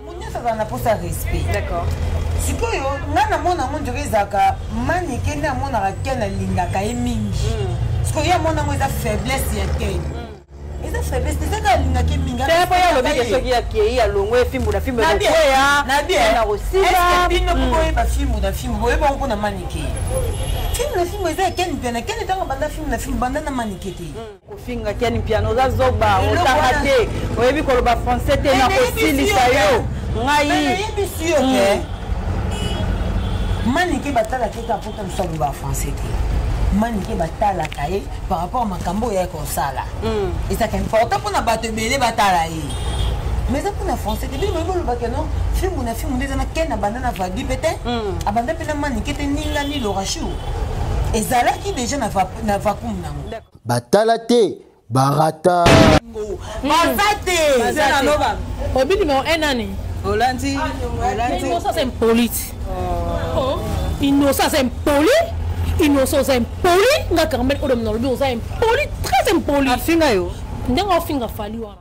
moto nyonso azala na mposa ya respect d'accord sikoyo ngai namona yango ndiro ezalaka manike nde amonaka ken alingaka ye mingi hmm. sikoyo ye amona yango eza faiblesse ya ken hmm. eza faiblesse te ezaka alingaka ye mingi po ye alobike soki akei alongwe fimbu na fimbu ekokwea na bien na kosila bino hmm. boyeba fimbu na fimbu boyeba yango mpo na manike filme na filme eza ya ken mpe na ken etanga banda filme na filme banda na manike te kofinga kiani mpiano oza zoba otanga te oyebi koloba français te na kosilisa yo ngai manike batalaka ete apota mosu aloba français te manike batalaka ye par rapport makambo oyo yaya kosala hmm. ezaka important mpona bato ebele batala ye mais eza mpona français te bino boyebi olobaka no filmu na filmu nde eza na ken abanda na vadi mpe te hmm. abanda mpe na manike te ningani lorachou ezalaki déjà na vacuum nango batala te barata baza te obi numero 1 nani olandi inosa aza impolite inosa aza impoli inosa oza impoli nga carmel odo nalobi oza impoli très impoli afinga yo ndenge ofinga fali wana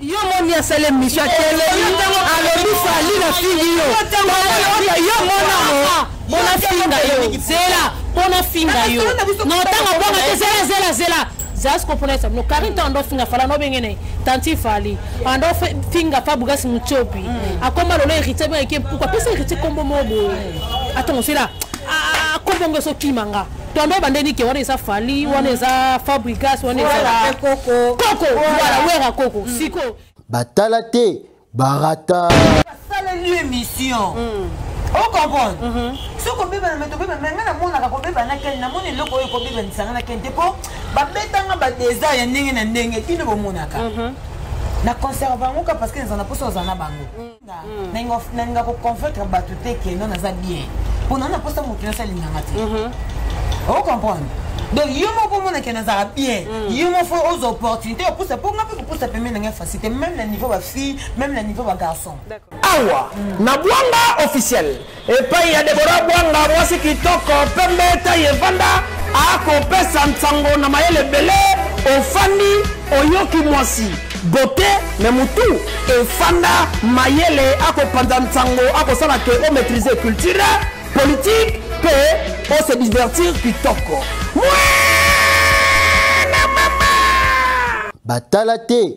yo moni asala emission atelemi alobi fali na fingi yo yo monango bona finga yo zela bona finga yo na otanga bonga te zela zela zela zasi kopona esa bino karin ntango ando finga fala nobenge na ye tanti fali ando finga fa bugasi mutiopi mm. akoma lolo héritier bengaki mpuku apesa héritier nkombo moko boye atongo sela akobongo esokima nga tombe bande nike wana eza fali wana eza fabrigas wana eza koko voilà wera koko mm. siko batala te barata basaleli émission mm. ocomprendre mm-hmm. soki obebana me tobebana me ngai namonaka kobeba na kene namoni eloko oyo ekobebanisa ngai na kene te mpo babetanga badesert ya ndenge na ndenge bino bomonaka mm-hmm. na conserve bango ka parce que ezala na mposa ozala na bango mm. nalinga koconvaincre bato te ke no naza bien mpo nana mposa moto nyonso alinganga te mhm. ocomprendre donc yo moko omonake nazala bien mm. yo moko oza opportunité opusa mpo nga mpe kopusa pembe nanga facilité même na niveau bafille même na niveau bagarçon awa mm. na bwanga officiel Epai ya Deborah Bwanga, mwasi kitoko, pembe, taille evanda, akopesa nsango na mayele ebele. Ofandi, oyoki mwasi bote me mutu efanda mayele akopanza nsango akosala ke o maîtrise culture politique mpe o se divertir kitoko mwana mama batala te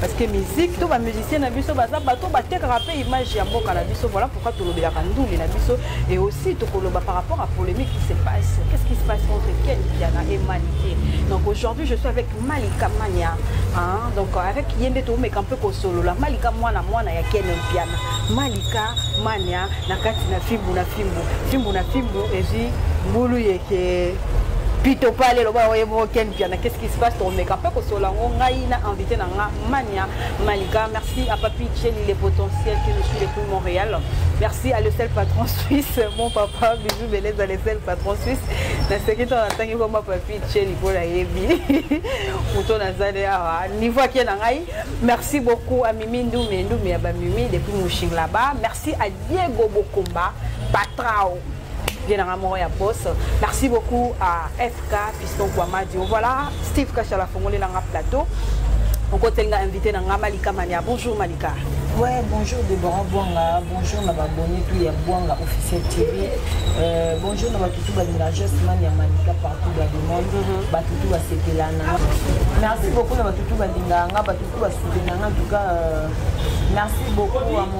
parce que musique to ba musicien na biso baza bato batekaka mpe image ya mboka na biso voilà pourquoi tolobelaka ndule na biso et aussi tokoloba par rapport à polémique qui se passe qu'est ce qui se passe entre ken diana et manike donc aujourd'hui je suis avec malika mania hein? donc avec ye nde toomeka mpe kosolola malika mwana mwana ya ken mpiana malika mania na kati na fimbu na fimbu fimbu na fimbu ezwi mbulu yeke pito pale loba oye moko ken mpiana qu'est ce qui Espace tokomeka mpe kosolola yango ngai na invité na nga Mania Malika. Merci à Papi Chelly le potentiel que je suis depuis Montréal. Merci à le seul patron suisse, mon papa Bijou Beleza le seul patron suisse. naseki ntango natangi koma papi cheli mpo nayebi moto nazali awa ah, niveau ake na ngai merci beaucoup à mimi ndume ndume ya bamimi depuis mouching là-bas merci à diego bokomba patrao bien nanga moko ya boss merci beaucoup à fk piston kwamadio voilà steve kashala fongoli nanga plateau okoteli nga invité na nga malika mania bonjour malika Ouais, bonjour Deborah Bouanga, bonjour na babonné tout ya Bouanga officiel TV. Euh, bonjour na batutu balinga juste man ya Manika partout dans le monde, mhm. batutu ba sepela na. Merci beaucoup na batutu balinga nga, batutu ba soutenir en tout cas euh, merci beaucoup à mon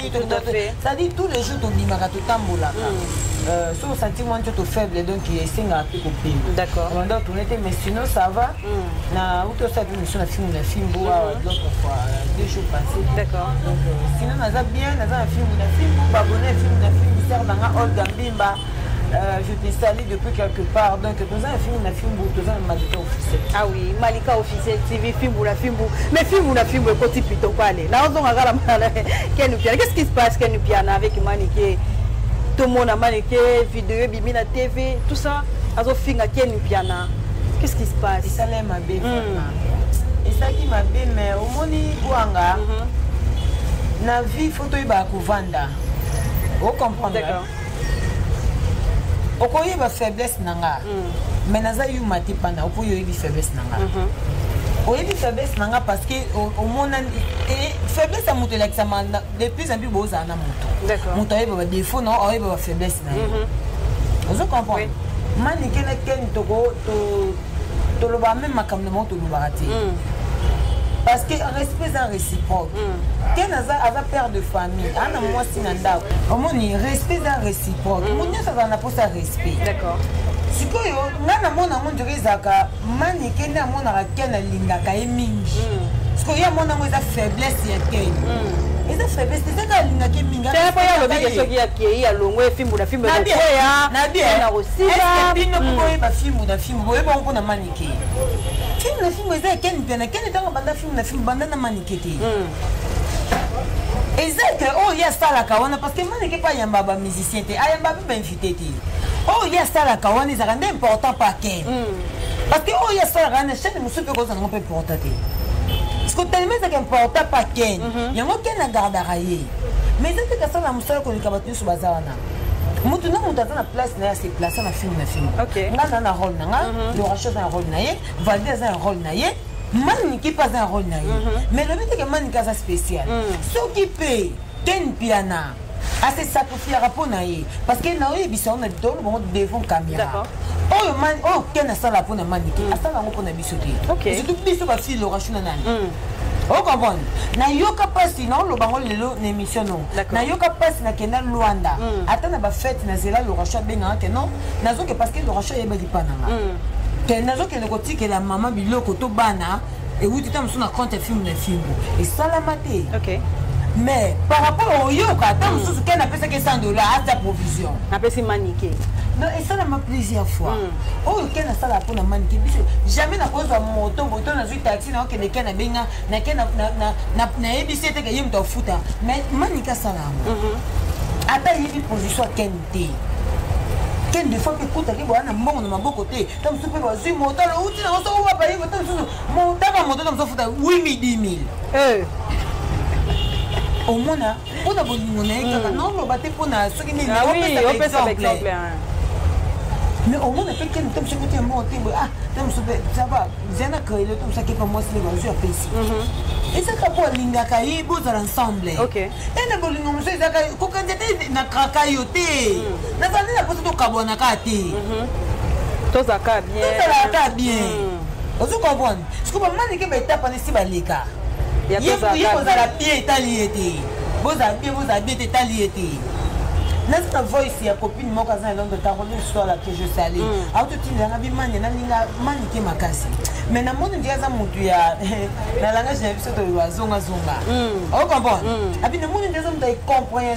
cetadire tous les jours tobimaka totambolaka hmm. euh, so osanti mwa nzoto faible donc esengaka mpe kopimanda tourne te mais sinon ça va hmm. na uti osala mpe miso na fimbu na fimbu hmm. awa donc euh, deux jours passé euh, sinon naza bien naza na fimbu na fimbu babone fimbu na fimbu sere nanga olga mbimba Euh, je te salue depuis quelque part donc toza na fimbu na fimbu toza na malika officiel ah oui malika officiel tv fimbu na fimbu mais fimbu na fimbu ekoti pito pale naozonga kala mala ken piana qu'est-ce qui se passe ken piana avec manike tomona manike video ebimi na tv tout ça azofinga ken piana qu'est-ce qui se passe esala ye mabe hmm. esalaki mabe mais omoni gwanga mhm. na vie fo toyebaka kovanda ocomprendre okoyeba faiblesse na nga mm. mais naza yuma te pana okoyo oyebi faiblesse na nga mm-hmm. oyebi faiblesse na nga parce que omonani e, faiblesse ya moto elakisama de plus en plus bozala na moto moto ayeba badefaut na ayeba bafaiblesse na ye mm-hmm. ozo comprendre manike na ken toloba meme makambo na bango tolobaka te mm. parce que respect eza réciproque mm. ken aza aza père de famille ana mwasi na ndako omoni respect eza réciproque mm. moto nyonso azala na mposa ya respect d'accord sikoyo ngai namona yango ndire ezalaka mani ke nde amonaka ken alingaka ye mingi sikoyo ye amona yango eza faiblesse ya ken eza faiblesse te kaka alingaka ye mingi te mpo ye alobi ke soki akei alongwe fimbu na fimbu ekokwea Est-ce que bino boye ba film na film boye ba ko na manike. Film na film eza ken pena ken tanga banda film na film banda na manike te. Hmm. Eza que oh ya sala ka wana parce que manike pa yamba ba musicien te ayamba ba invité te. Oh ya sala ka wana eza rende important pa ken. Hmm. Parce que oh ya sala rende chaque musupe ko za ngo pe important te. Parce que tellement c'est important pa ken. Mhm. Yango ken na gardara ye. Mais eza te ka sala musala ko likaba tusu bazana. moto na moto aza na place na ye ase place na filme na filme okay. nga aza na role na nga mhm. loracho aza na role na ye valde aza na role na ye manike mpe aza na role na ye mhm. mais lobi teke manike aza spécial mhm. soki mpe ken piana ase sacrifiaka mpo na ye parce que na oyebisa yo na bitolo bango devant caméra oyo ken asala mpo na manike asala yango mpo na biso te surtout biso bafille lorachu na nani hmm. okomprendre nayoka mpasi naoloba ngo lelo na émission no nayoka mpasi nakenda luanda hmm. ata na bafete nazela lorachu abengaka te non nazoke parce que lorachu ayebaki mpa nanga hmm. te nazokende kotikela mama biloko to bana ewuti ta mosusu na compte ya filme na fimbo esalama te mais par rapport oyoka ata mosusu kene apesaki 100 dollar aza provision napesi manike non esalama plusieurs fois mm. oyo ken asala mpo na manike biso jamais nakozwa moto boto nazwi taxi naokende ken abenga na ken nayebisi eteke ye moto afuta mais manike asala yango mhm. ata ayebi position ya ken te ken de fois mpe ekutaki boya na mbongo na maboko te ta mosusu mpe bazwi moto alouti nango soko babayebi ta mosusu motaka moto ta mosusu afuta 8 midi 1000 omona mpo na bolingo na ye hmm. kaka naoloba te mpo na soki nini ah opesaka exemple mais omona mpe kende to mosuku te moko te boye ah to mosusu mpe saba zana kaele to mosusu akepa mwasi nde bazwi apesi ezaka mpo alingaka ye bozala ensemble ene bolingo mosusu ezaka kokanza te na kraka yo te nazali na mposa tokabwana kaka te tozalaka bien ozo comprendre siko bamanike baetapa nesi baleka ye kozala pie etali ye te bozala pie bozala bie te etali ye te naza na voice ya copine moko aza na londre ntango nde histoire la que je sali mm. autotindanga bimani nalinga manike makasi mais namoni ndike aza motu ya na langage na biso toloba zongazonga ocomprendre abi namoni nde aza motu ya comprehension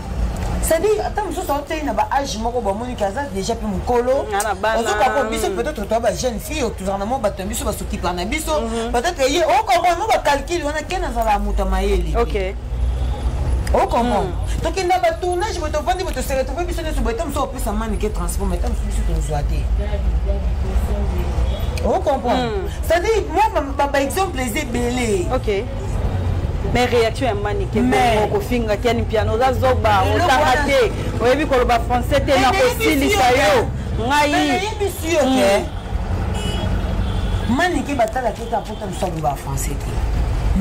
c'est-à-dire ata mosusu aotei na baage moko bamoni ke aza déjà mpe mokolo ozoka mpo biso peut-être toa bajeune fille tozala na mwa bato na biso basokipa na biso peut-être ye okomprendre mo bacalcule wana ke nazala moto ya mayele okomprendre tokenda batournage boye tovandi boye toseka tope biso nyonso boye ta mosusu opesa mani ke transport mai ta mosusu biso tozwa te okomprendre c'est-à-dire mwa baexemple eza ebele mais réaction ya manike kofinga kiani piano oza zoba otanga te oyebi koloba français te na kosilisa yo ngai hmm. manike batalaki ete apota mosu aloba français te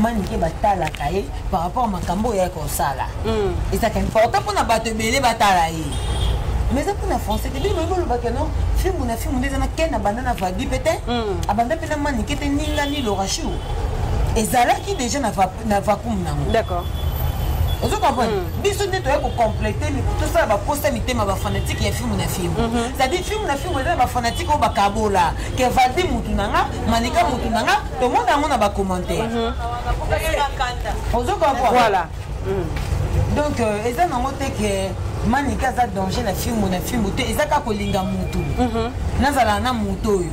manike batalaka ye par rapport makambo oyo yaki kosala hmm. ezalaka important mpona bato ebele batala ye mais eza mpona français te bino bolobaka no filmu na filmu nde eza na ken abanda na vadi mpe te abanda mpe na manike te ningani lorachou ezalaki déjà na, va, na vacuum nango d'accord ozo comprendre mm. biso nde toyei kocomplete tosala baposta mitema bafanatike ya filme na filme mhm. c'est-à-dire filme na filme eza na bafanatike oyo bakabola ke valdi mutu na nga malika mutu na nga tomona yango na bacommentaire mhm. ozo comprendre mm. donc euh, eza nango te ke manika aza danger na filme na filme te eza kaka kolinga mutu mhm. nazala na moto oyo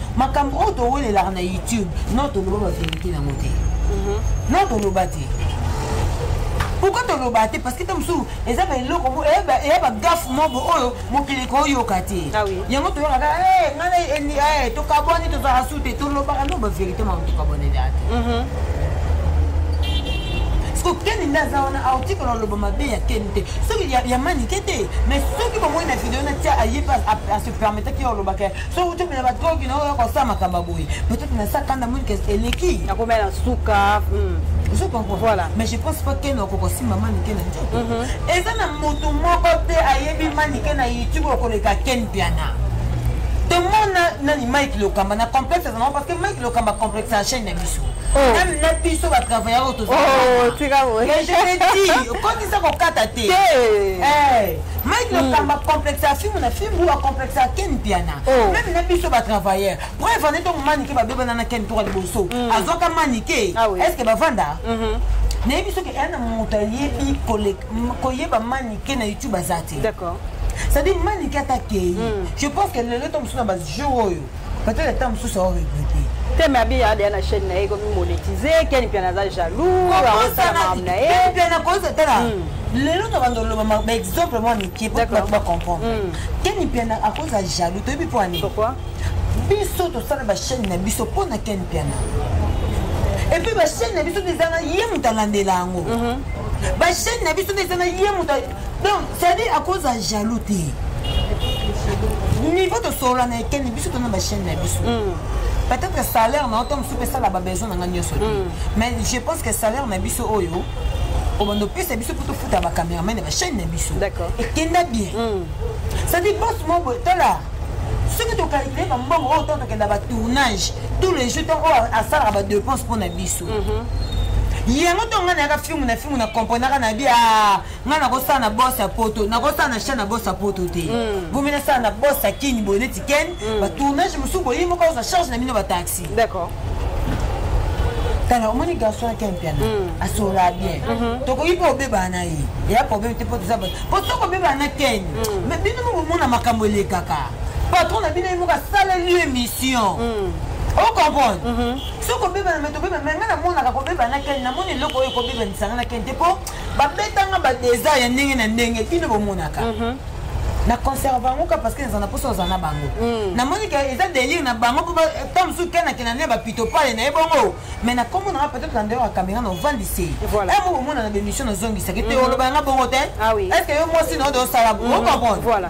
makambo oyo towelelaka na youtube no toloba baverité yango te mhm. no toloba te pourkoi toloba te parce que ta mosusu eza ba eloko eya bagafe mobo oyo mokili koyoka te ah yango toyokaka eh, ngai eh, tokabwani tozala su te tolobaka no baverité mama tokabwaneli ate mhm. soki keni nde aza wana article aloba mabe ya keni te soki ya manike te mais soki bomoi na video natia aye mpe asepermetaki yo olobaka soki otomela badrogi na oyo yakosala makambo boye peut-être na sa kanda moni kese eleki nakomela na suka hmm. je comprends voilà mais je pense pas ken okokosimba manike na nzoto mhm. eza na moto moko te ayebi manike na youtube okoleka ken piana tomona nani mike lokamba na complexe ezango parce que mike lokamba complexe ya chaîne na biso meme oh. na biso batravailleur oyo tozaa oh, je te dis okotisa kokata te eh. mike lokamba mm. complexe ya fimu na fimu acomplexe ya ken mpiana oh. meme na biso batravailleur preuve ane ntongo manike babebana na ken toka liboso mm. azwaka manike ah est ce que bavanda mm-hmm. nayebi soki eya na moto ayebi koyeba manike na youtube aza te c'est-à-dire manike atakei mm. je pense que lelo to mosusu na bajour oyo peut-être ata mosusu ao regrete te me abi adeya na chaîne na ye ekomi monetize keni mpiana aza jaloux aosalamam na ye mpiana koyoka tala hmm. lelo tokanda oloba baexemple mwa mike po bato bacomprendre hmm. keni mpiana akozala jaloux toyebi mpo ani biso tosala bachaîne na biso mpo na keni mpiana epuis bachaîne na biso nde ezanga ye moto alandela yango mhm. bachaîne na biso nde ezanga ye moto donc cetadire akoza jaloux te niveau tosolola na ekeni biso tona bachaine na biso hmm. peut-être salaire na yo ntango mosusu mpe esala babesoin na ngai nyonso te hmm. mais je pense que salaire na biso oyo obanda opesa biso mpo tofuta bacameraman ya bachaine na biso ekenda bien hmm. cetadire bos mobo tala soki tokalkile bambongo oyo ntango tokenda batournage tous les jours ntango oyo asalaka badepense mpo na biso yango ntongo ngai nayaka filmu na filmu na komprenaka na bi ah, ngai nakosala na bos ya poto nakosala na chan na bos ya poto te mm. bomi nasala na bos ya kini boye neti ken mm. batournage mosusu boye moko ozwa charge na bino bataxi tala omoni garçon ya ken mpiana mm. asolaa bien mm-hmm. tokoki mpe obebaa na ye eya problème te mpo toza mpo soki obebaa na ken ma bino moko omona makambo elekaka patron na bino ye moko asaleli yo émission ocomprendre soki kobebana me tobeba me ngai namonaka kobeba na keni namoni eloko oyo ekobebanisanga na keni te mpo babetanga badesert ya ndenge na ndenge bino bomonaka mhm. na conserve yango ka parce que naza na mposa oza na bango mhm. namoni ke eza délire na bango mpo ta mosusu kenakena ne bapito pale na ye bongo mais na kombo nanga peut-être na ndeko ya caméra na ovandisi emo bomona na bémission nazongisaki te mhm. oloba yanga bongo te ah est ce que yo mwasi na ode osala bo comprendre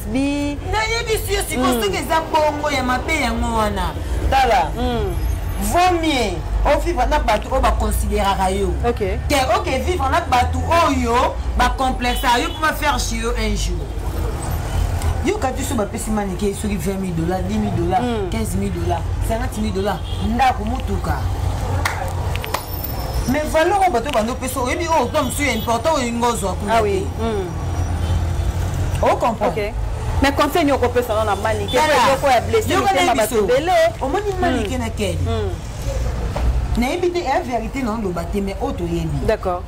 bi nayebisi yo sikoyo mm. soki eza bongo ya mabe yango wana tala mm. vaut mieux ovivre na bato oyo baconsideraka yo te oke vivre na bato oyo bacomplexa yo mpo bafaire chez yo un jour yoka biso bapesi manike soki 20 000 dollars 10 000 dollars 15 000 dollars 50 000 dollars ndako motuka mais valeur oyo bato bando mpe so oyebi oyo kuna mosusu ya important oyo ingo ozwa kuna te ocomprendre mais conseil nini okopesa no na manike yoko ya blessure motema bato ebele omoni hmm. manike na keni hmm. nayebi te ya verité na oloba te mais oyo toyebi d'accord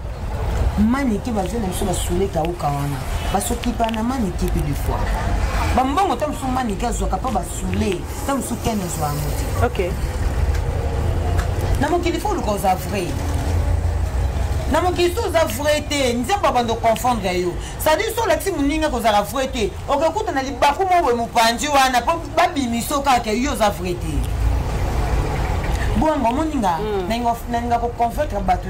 manike bazali na biso basule kauka wana basokipa na manike mpe de fois bambongo ta mosusu manike azwaka mpo basule ta mosusu ken ezwa yango te ok na mokili fo oluka oza vrai na mokili so oza vrai te nzambe abanda oconfondre yo sadi so olakisi moninga kozala vrai te okekuta na libaku moko boye mopanzi wana mpo babimiso kaka yo oza vrai te bongo omoninga hmm. nalinga koconvaincre bato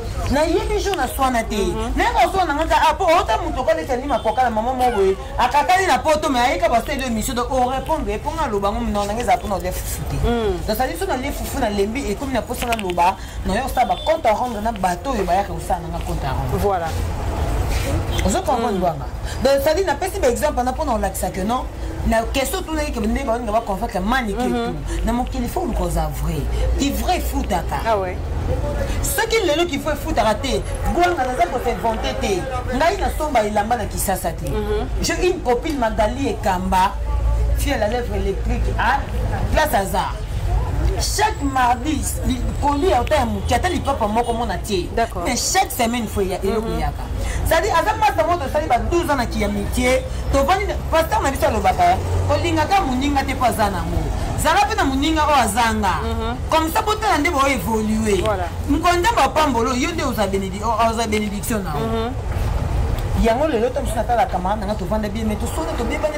nayebi jour naswana te mhm. naye koswana nga kaka ah, po ota moto okoleta nini makoka na mama moko boye akakani na poto me ayeka basali émission donc orépondre ye mpo nga aloba yango minoko nanga ezala mpona olia fufu te nasali so nalie fufu nalembi ekomi na mposa naloba nayo osala bacompte à rendre na bato oyo bayaka kosala nanga compte à rendre voilà ozo comprendre bwanga mm. donc sali napesi baexemple wana mpona olakisa que non na question otunaki kende baolinga baconfacte manike tu na mokili fo oluka oza vrai ti vrai efutaka ah soki lelo kifo efutaka te bwanga naza kosinvente te ngai nasomba elamba na kisasa te mhm. je une copine magali ekamba fie la lèvre électrique a place hasard chaque mardi koli ya ota ya moke ata lipapa moko mona te mais chaque semaine fo eloko mhm. eyaka sadi aza pasta moko tosali ba 12 ans na kiyamitie tovandi pasteur na biso alobaka olingaka moninga te mpo aza nango zala mpe na moninga oyo azanga mhm. comme ça botala nde bao évolue mokolo nzambe apambolo yo nde oza bénédiction na yango lelo to mosusu natalaka maa nanga tovanda bien me tosoni tobebani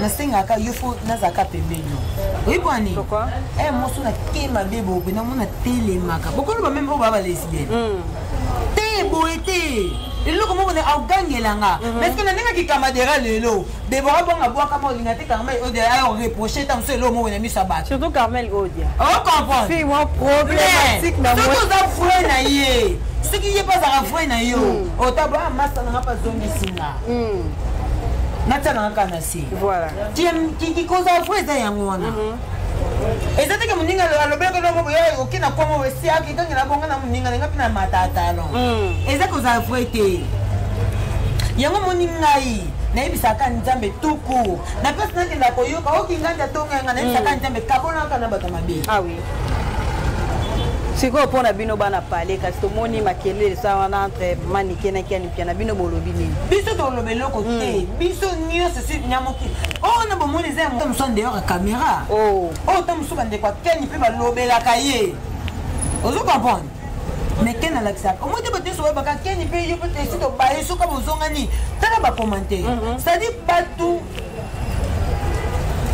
nasengaka yo fo nazalaka pembeni yo oyi mpo nini e mosu na te mabe bobe namona telemaka bokoloba meme oyo baa balesbienne hmm. te boye te eloko moko na ogangela nga mhm. parceke na ndenge kikamadera lelo debora bonga bwakama olinga te carmel odia ayo reproche ta mosusu eloko moko na miso ya bato surtout carmel odia ocomprendresoki oza vrai na ye soki ye mpe azalaka vrai na yo hmm. otabla ah, masa nanga mpe azongisi nga hmm. natanga kaka na se kikoza fo eza yango wana mhm. eza teke moninga alobelaka noko boyo oke na kongo esi akekangela bonga na moninga nanga mpe na matatalo hmm. eza kozala vrai te yango moni ngai nayebisaka nzambe tuku na place nakenda koyoka oki ngai nda tonga yanga nayebisaka hmm. nzambe kabonaka na bato mabe ah sikoyo mpo na bino bana pale kasi tomoni makelele eza wana entre manike na kiani ya na bino bolobi nini biso toloba eloko hmm. te biso nyonso si na mokili oyo oh, na bomoni eza ya mosusu en dehors ya caméra oyo oh. oh, ta mosusu bandeko ya keni mpe balobelaka ye ozo comprendre mais ken alakisaka omoi te bato nyonso bayebaka keni mpe yo mpe esi tobaye soki bozongani tala bacommentaire mhm. c'est-à-dire bato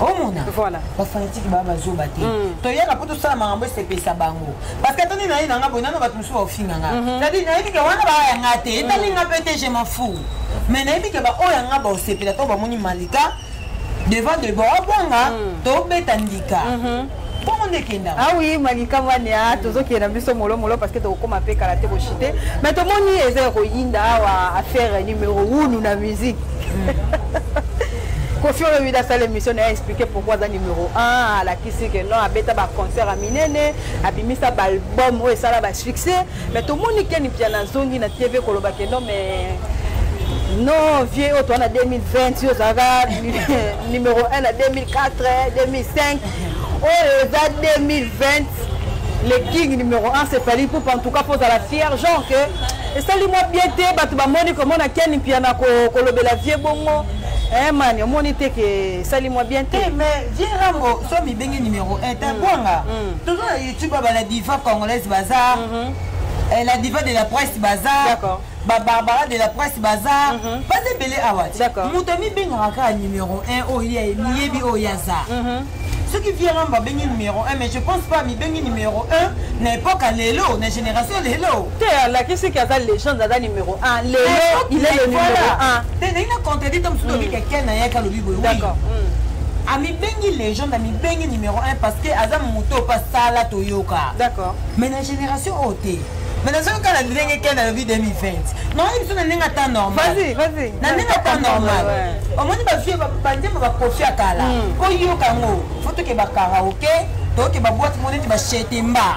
omona voilà. bafanatike baa bazoba te mm. toyaka mpo tosala makambo esepesa bango parce que atoni naye nanga boye nano bato mosusu baofinga nga mhm. cetadire nayebi ke wana baaya nga te etali nga mpe te je m'en fou mais nayebi ke baoyo ya nga baosepela to bamoni malika devant de baobwanga mm. tobeta ndika mhm. bongo nde ekenda awi ah malika mwani a ah, tozokende na biso molomolo parce que tokokoma mpe kala te koshite mais tomoni eza ya koyinda awa ah, affaire numero unu na musique hmm. kofi olobi nasala émission na ye expliqué pourquoi aza numero 1 alakisi ke non abeta baconcert ya minene abimisa baalbum oyo esala basuccès Mais tomoni Ken Mpiana azongi na TV koloba ke non mais non vieux oyo toa na 2020 yo ozalaka numéro 1 na 2004 2005 oyo eza 2020 le king numéro 1 c'est fali poupe en tout cas pozala fier genre que esali mwa bien te bato bamoni komona ken mpiana kolobela vieux bongo Eh man, omoni te ke esali mwa bien te. Eh, mais vieux Rambo, somi bengi numéro 1, ta mm. bonga. Mm. Toujours tu ba ba la diva congolaise bazar mm -hmm. eh, la diva de la presse bazar d'accord ba barbara de la presse bazar mm -hmm. baza ebele awa d'accord moto amibengaka kaka numéro 1 oyo ye miyebi oyo aza mm -hmm. Ce qui vient là, babengi numéro 1, mais je pense pas, mi bengi numéro 1, na époque à l'élo, na génération l'élo. te alakisi ke aza legende aza numero 1 lelo il est le numero 1 te ndenge na contredit to mosusu lobi ke ken na yaki alobi boye d'accord amibengi legende amibengi numero 1 parce que aza moto oyo pasala toyoka d'accord mais na génération oyo te mais nazoki kaka na ndenge ken alobi 2020 naoyi biso na ndenge ata normal na ndenge ata normal omoni bavie banzembo bakofi ya kala oyoka yango fotoke bakaraoke toyoke baboite moko neti bashetemba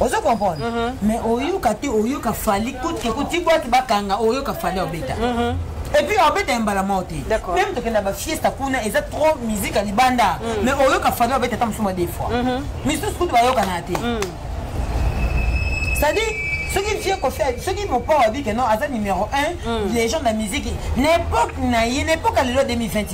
ozo comprendre uh -huh. mais oyoka te oyoka fali kutke kuti bwaki bakanga oyoka fali obeta uh -huh. et puis obeta mbala moko te meme tokenda bafiesta kuna eza trop musique ya libanda mm. mais oyoka fali obeta ata mosuma de fois uh -huh. misusu kutu bayokana te mm. c'est-à-dire soki vie kofi soki mopao abike non aza numéro 1 mm. les gens na musique na époque na ye na époque ya lelo 2020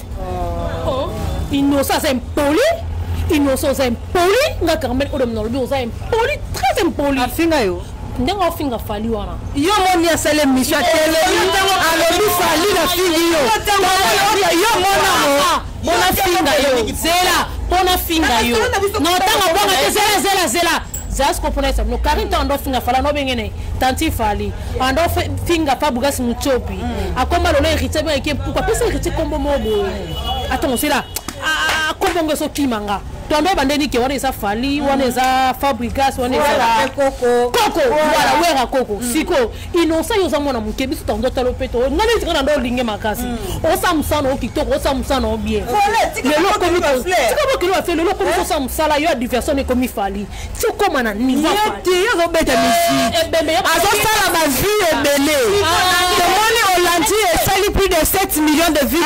oh, innocent aza impoli innocent oza impoli nga carmel oyo na lobi oza impoli très impoli afinga yo ndenge ofinga fali wana yo moni asali emission ya tele alobi fali na fingi yo yo monango mona finga yo zela mpo nafinga yo na ntango bonga te zela zela zela zasko pona esa bino karine ntango ando finga fala nobenge ne tanti fali ando finga pa bugasi mutiopi mm. akoma lolo héritier bino eke mpuku apesa héritier nkombo moko boye atongo sila nkombo ngo esokima nga tondo ebandeli ke wana eza fali wana eza fabrigas wana eza koko wala wera koko mm. sikoyo innocent yo oza mwana moke biso tango tala opeto oyo ngai neti kaka nde olinge makasi hmm. osala mosala na yo kitoko osala mosala na yo bien lelo okomi tika bokeli bafle lelo okomi kosala mosala yo ya diversion ekomi fali ti okoma na nivote azobeta eh, misiki eh, azosala bavie ebele ah. tomoni olandi esali plus de 7 millions de vues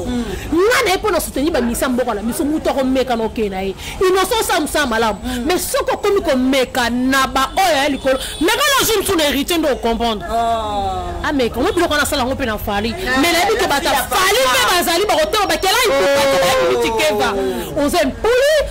nga na ye mpo na soutenir bamisa mboka na biso moto akomeka na okei na ye innocent osala mosala malamu mm. mais soki okomi komeka na baoyo ya likolo meka na zwi mosusu na héritier nde okomprendre oh. ameka ah, ngo biloko wana asala yango mpe na fali ah, mais nayebi ke bata fali mpe bazali bakotema bakela nkuabayebi mitikeva oza mpuli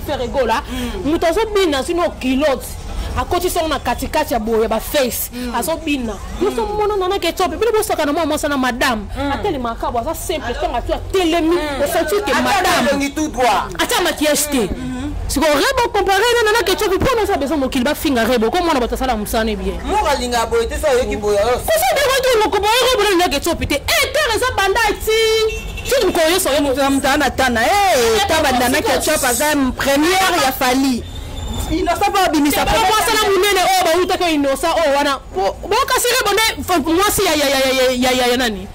Ferre Gola moto azobina azwi no kilote akotisi yango na katikati ya boye baface mm. azobina nyonso mm. mona nanaki etope bino bosaka na mwa mwasa na madame mm. atelemaka kabo aza simple ntango atu atelemi osanti ete madame ata makiyage te sikoyo rebo compare na nana ketchup mpo naza besoin mokili bafinga rebo ko mwana bato asala mosala ebien kosodekoki mokoboye rebo na nana ketchup te etere eh, eza banda ti Tiki mukolo yo solo moto ya moto ana tana eh taba nana ketchup aza première ya Fally innocent mpo abimisa mwasana monene oyo bawutaki oyo innocent oyo wana bokasire bonde mwasi ya nani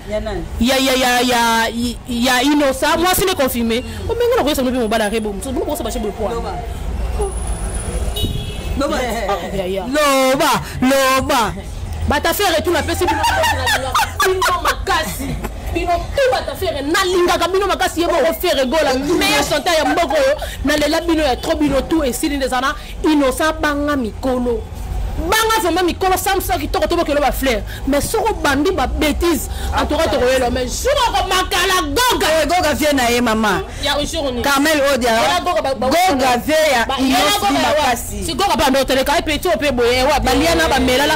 ya innocent mwasi ne confirme omenge na koyesa bino mpe mobala rebo mosusu bino kokosa bashe bopoa loba loba loba batafere tu napesi bino makasi bino tout bata fere nalingaka bino makasi ye moko fere gola meilleur chanteur ya mboka oyo nalela bino ya trop bino tout esili nde eza na innocent banga mikolo banga vraimen mikolo samsa kitoko tobokelo bafleur mais soki obandi babétise entoura tokoyela mais jour akomakala goga eh, goga vie na ye mama carmel odia goga vie ya inosmakasi goga banda oteleka epe ti ope boye eh, wa baliana bamelala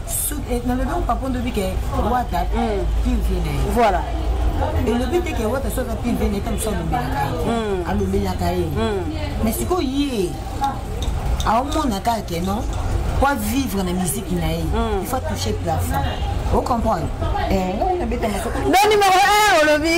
Eh, nalobi opapo ndobi ke wata hmm. pire vie na ye voilà elobi te ke wata soki pire vie na ye ta mosu alobelaka ye hmm. alobelaka ye hmm. mais sikoyo ye aomona kaka ke non po avivre na miziki na ye il faut toucher plafond ocomprendre eh, don numéro 1 olobi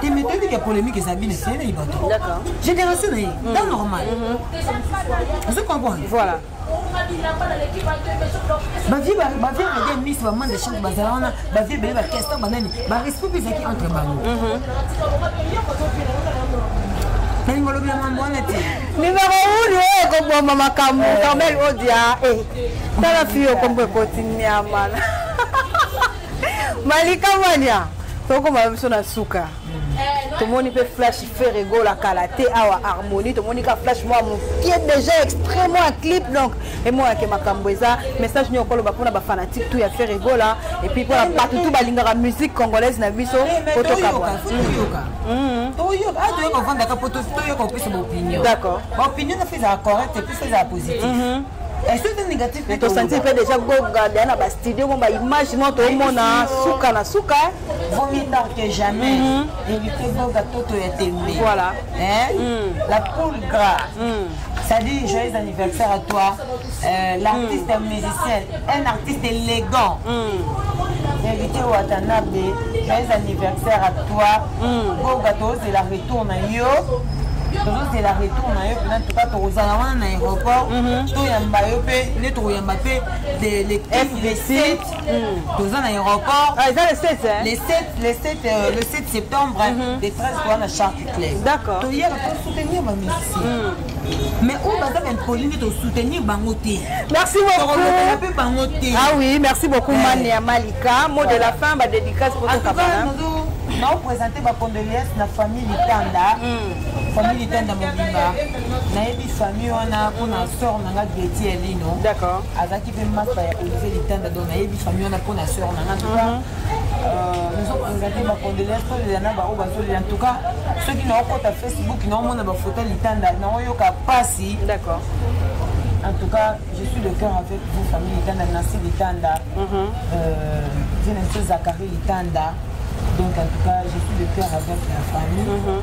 te mais toyebi ke polémique eza bino esene ye bato génération na ye ta normal ozo comprendre voilà bavie bavie rede mis bamande chante bazala wana bavie ebele bakestan banani barespect mpe ezalaki entre bango nalingi olobela mambo wana te nimero uni oyo ekoboma makambo carmel odia tala fi okombo ekoti niamana malika mania tokoma biso na suka tomoni mpe flash fer egola kala te awa harmonie tomoni ka flash mwa mokie déjà extrêmement ya clip donc emonake makambo eza message nio okoloba mpona bafanatique tout ya fer egola epuis mpona bato tout balingaka musique congolaise na biso po tokabwa toyoka ofandaka po toyoka opesa baopinion d'accord baopinion na fo ezala correcte mpe fo ezala positif tosentir mpe déjà goga deya na bastudio mo baimage mo tomona suka na suka vaut mieux tard que jamais mhm. éviter goga toto ya tembe voilà hein? mm. la poule gras mm. ça dit joyeux anniversaire à toi euh, l'artiste mm. musicien un artiste élégant mm. éviter watanabe joyeux anniversaire à toi mm. goga tozela tour na yo tozozela retour na yo mpena tuka tokozala wana na aéroport mhm. toyamba yo mpe nde tokoyamba mpe fbc mhm. toza na aéroport ah, eza le 7 le 7 le 7 euh, le 7 septembre mhm. le 13 toza na charcuterie d'accord toyaka tosoutenir bamisi mais oyo baza baimpoli nde tosoutenir bango te merci beaucoup mpe bango te ah oui merci beaucoup eh. mane ya malika mot de la fin badédicace mpo tokabana naopresente bacondoléance na famille litanda hmm. famille litanda mobimba nayebi famille wana mpona hmm. sor na nga geti elino azalaki mpe masta ya olivier litanda donc nayebi famille wana mpona sor na nga kozala te bacondoléance tolela na baoyo bazolela en tout cas soki naokota facebook naomona bafoto ya litanda naoyoka mpasi d'accord en tout cas je suis de cœur avec vous famille litanda nancy litanda zina biso zakari litanda donc en tout cas je suis de cœur avec la famille mm -hmm.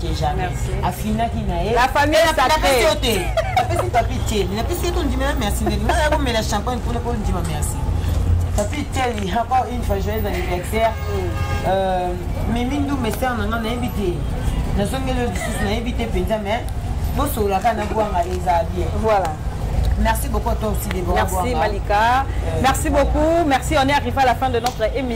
que jamais. Merci. Afinaki na ye. La famille est sacrée. Apesi papi Thierry. Na pesi ko ndima merci ndenge. Na ko mela champagne pour ko ndima merci. Papi Thierry, encore une fois joyeux anniversaire. Mm. Euh, Mimi Ndoumbe sœur na nga na invité. Na zongelo lisusu na invité penza mais bosolaka na bwanga eza bien. Voilà. Merci beaucoup à toi aussi, Déborah. Merci, Malika. Euh, merci beaucoup. Merci. On est arrivé à la fin de notre émission.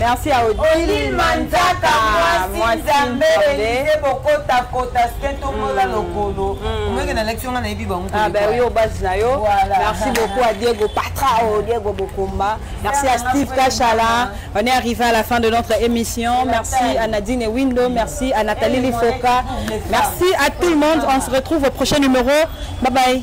merci ya odile manzaka mwasi nzambe elise bokotakota se tomola mm. lokolo mm. omeke na leki nga nayebi bango ah, yo base na yo merci beaucoup à diego patra o oh, diego bokomba merci à steve kashala on est arrivé à la fin de notre émission merci à nadine windo merci à nathalie lifoka merci à tout le monde on se retrouve au prochain numéro bye bye